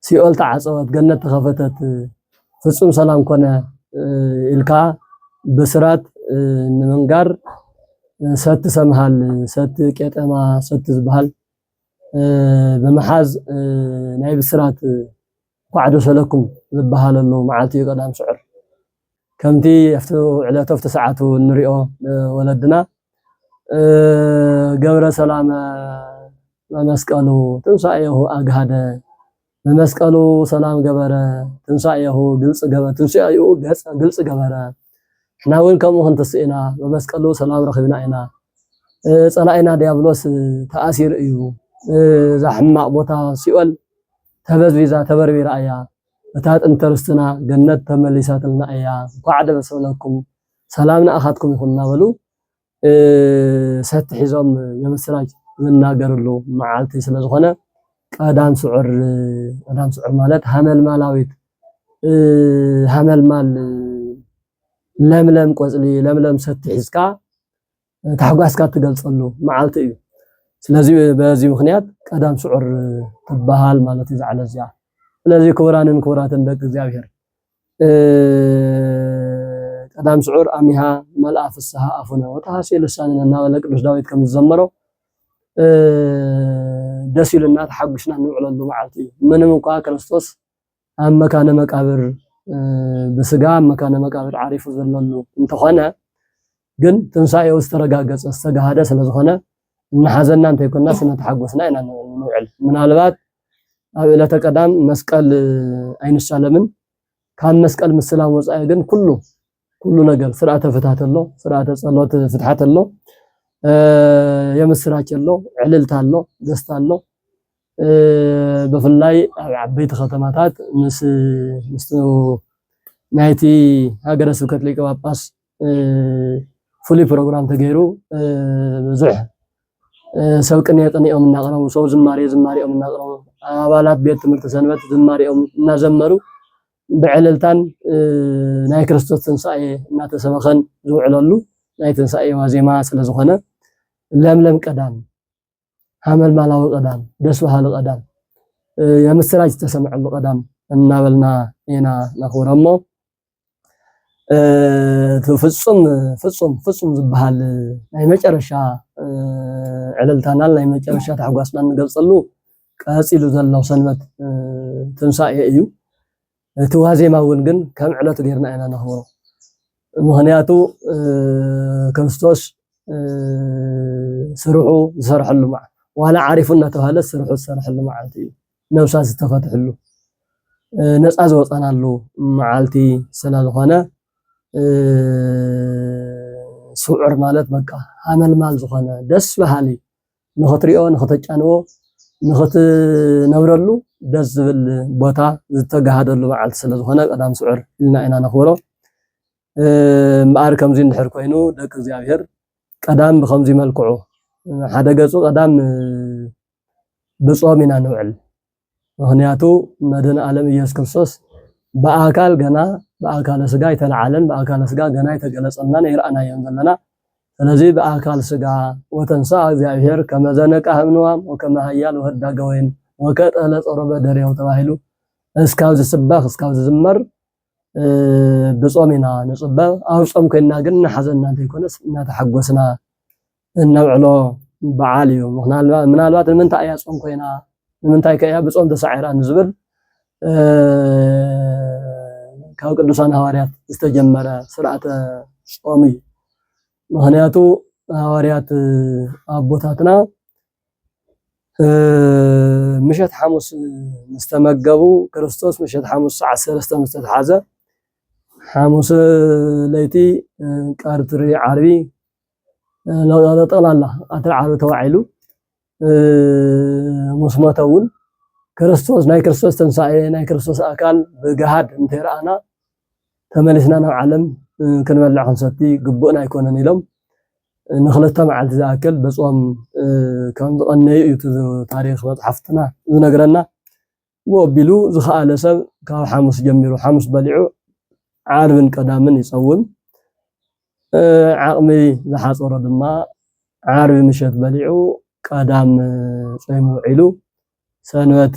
Speaker 1: ሲኦል ተዓፀወት፣ ገነት ተኸፈተት፣ ፍፁም ሰላም ኮነ ኢልካ ብስራት ንምንጋር ሰቲ ሰምሃል፣ ሰቲ ቄጠማ፣ ሰቲ ዝበሃል ብምሓዝ ናይ ብስራት እንኳዕ ደስ በለኩም ዝበሃለሉ መዓልቲ እዩ ቀዳም ስዑር። ከምቲ ኣብቲ ዕለቱ ኣብቲ ሰዓቱ እንሪኦ ወለድና ገብረ ሰላመ መመስቀሉ ትንሳኤሁ ኣግሃደ መመስቀሉ ሰላም ገበረ ትንሳኤሁ ግልጽ ገበረ ትንሳኤኡ ገጸ ግልጽ ገበረ ሕና እውን ከምኡ ክንትስእ ኢና መመስቀሉ ሰላም ረኺብና ኢና ጸላኢና ዲያብሎስ ተኣሲሩ እዩ እዛ ሕማቕ ቦታ ሲኦል ተበዝቢዛ ተበርቢራ እያ እታ ጥንቲ ርስትና ገነት ተመሊሳትልና እያ እንኳዕ ደስ በለኩም ሰላም ንኣኻትኩም ይኹን እናበሉ ሰቲ ሒዞም የምስራች ዝናገርሉ መዓልቲ ስለዝኾነ ቀዳም ስዑር ቀዳም ስዑር ማለት ሃመልማላዊት ሃመልማል ለምለም ቆፅሊ ለምለም ሰቲ ሒዝካ ታሕጓስካ እትገልጸሉ መዓልቲ እዩ። ስለዚ በዚ ምኽንያት ቀዳም ስዑር ትበሃል ማለት እዩ ዛዕለ እዚኣ። ስለዚ ክቡራንን ክቡራትን ደቂ እግዚኣብሔር ቀዳም ስዑር ኣሚሃ መልኣ ፍስሃ ኣፉነ ወተሃሴ ልሳንነ እናበለ ቅዱስ ዳዊት ከም ዝዘመሮ ደስ ኢሉና ተሓጒስና እንውዕለሉ መዓልቲ እዩ። ምንም እንኳ ክርስቶስ ኣብ መካነ መቃብር ብስጋ ኣብ መካነ መቃብር ዓሪፉ ዘለሉ እንተኾነ ግን ትንሳኤኡ ዝተረጋገፀ ዝተጋሃደ ስለዝኾነ እናሓዘና እንተይኮናስ እናተሓጎስና ኢና ንውዕል። ምናልባት ኣብ ዕለተ ቀዳም መስቀል ኣይንሳለምን። ካብ መስቀል ምስላም ወፃኢ ግን ኩሉ ኩሉ ነገር ስርዓተ ፍትሓት ኣሎ፣ ስርዓተ ጸሎት ፍትሓት ኣሎ፣ የምስራች ኣሎ፣ ዕልልታ ኣሎ፣ ደስታ ኣሎ። ብፍላይ ኣብ ዓበይቲ ከተማታት ምስ ምስ ናይቲ ሃገረ ስብከት ሊቀ ጳጳስ ፍሉይ ፕሮግራም ተገይሩ ብዙሕ ሰብ ቅኔ ቅኔኦም እናቕረቡ ሰው ዝማሬ ዝማሬኦም እናቕረቡ ኣባላት ቤት ትምህርቲ ሰንበት ዝማሬኦም እናዘመሩ ብዕልልታን ናይ ክርስቶስ ትንሳኤ እናተሰበኸን ዝውዕለሉ ናይ ትንሳኤ ዋዜማ ስለ ዝኾነ ለምለም ቀዳም፣ ሃመልማላዊ ቀዳም፣ ደስ በሃሊ ቀዳም፣ የምስራች ዝተሰምዐሉ ቀዳም እናበልና ኢና ነኽብሮ እሞ ፍጹም ፍጹም ፍጹም ዝበሃል ናይ መጨረሻ ዕልልታናን ናይ መጨረሻ ታሕጓስና ንገልጸሉ ቀጺሉ ዘሎ ሰንበት ትንሳኤ እዩ። እቲ ዋዜማ እውን ግን ከም ዕለቱ ጌርና ኢና ነኽብሮ። ምኽንያቱ ክርስቶስ ስርሑ ዝሰርሐሉ መዓልቲ ዋላ ዓሪፉ እናተባህለ ስርሑ ዝሰርሐሉ መዓልቲ እዩ። ነብሳት ዝተፈትሕሉ ነፃ ዝወፀናሉ መዓልቲ ስለዝኾነ ስዑር ማለት በቃ ሃመልማል ዝኾነ ደስ በሃሊ ንኽትሪኦ ንኽተጫንዎ ንኽትነብረሉ ደስ ዝብል ቦታ ዝተጋሃደሉ በዓል ስለዝኾነ ቀዳም ስዑር ኢልና ኢና ነኽብሮ። እምበኣር ከምዚ እንድሕር ኮይኑ ደቂ እግዚኣብሔር ቀዳም ብከምዚ መልክዑ ሓደ ገፁ ቀዳም ብፆም ኢና ንውዕል። ምኽንያቱ መድህን ኣለም ኢየሱስ ክርስቶስ ብኣካል ገና ብኣካለ ስጋ ኣይተለዓለን ብኣካለ ስጋ ገና ኣይተገለጸልናን ኣይረኣናዮን ዘለና ስለዚ ብኣካል ስጋ ወተንሳ እግዚኣብሔር ከመዘነቃ ህምንዋም ወከመ ሃያል ወህዳገ ወይን ወከጠለ ጸሮ በደሬው ተባሂሉ እስካብ ዝስበኽ እስካብ ዝዝመር ብጾም ኢና ንጽበ ኣብ ጾም ኮይና ግን እናሓዘና እንተይኮነስ እናተሓጎስና እነብዕሎ በዓል እዩ። ምናልባት ንምንታይ እያ ጾም ኮይና ንምንታይ ከ እያ ብጾም ተሳዒራ ንዝብል ካብ ቅዱሳን ሃዋርያት ዝተጀመረ ስርዓተ ጾም እዩ። ምክንያቱ ሃዋርያት ኣቦታትና ምሸት ሓሙስ ምስተመገቡ ክርስቶስ ምሸት ሓሙስ ሰዓት ሰለስተ ምስተተሓዘ ሓሙስ ለይቲ ቀርትሪ ዓርቢ ጠቕላላ ኣተዓባቢ ተዋዒሉ ምስ ሞተ እውን ክርስቶስ ናይ ክርስቶስ ትንሳኤ ናይ ክርስቶስ ኣካል ብገሃድ እንተይረኣና ተመሊስና ናብ ዓለም ክንበልዕ ክንሰቲ ግቡእና ኣይኮነን ኢሎም ንክልተ መዓልቲ ዝኣክል ብጾም ከም ዝቐነዩ እዩ ታሪክ መፅሓፍትና ዝነግረና። ወኣቢሉ ዝኸኣለ ሰብ ካብ ሓሙስ ጀሚሩ ሓሙስ በሊዑ ዓርብን ቀዳምን ይጸውም። ዓቕሚ ዝሓጸሮ ድማ ዓርቢ ምሸት በሊዑ ቀዳም ጾይሙ ውዒሉ ሰንበት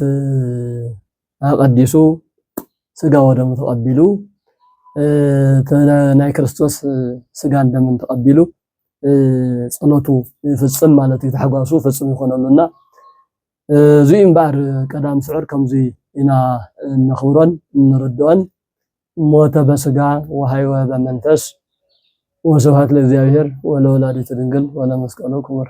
Speaker 1: ኣቐዲሱ ስጋ ወደሙ ተቐቢሉ ናይ ክርስቶስ ስጋን ደምን ተቐቢሉ ጸሎቱ ይፍጽም ማለት እዩ። ታሕጓሱ ፍጹም ይኾነሉ እና እዙይ እምበኣር ቀዳም ስዑር ከምዙይ ኢና እነኽብሮን እንርድኦን ሞተ በስጋ ወሃይወ በመንፈስ ወስብሐት ለእግዚኣብሔር ወለወላዲቱ ድንግል ወለመስቀሉ ክቡር።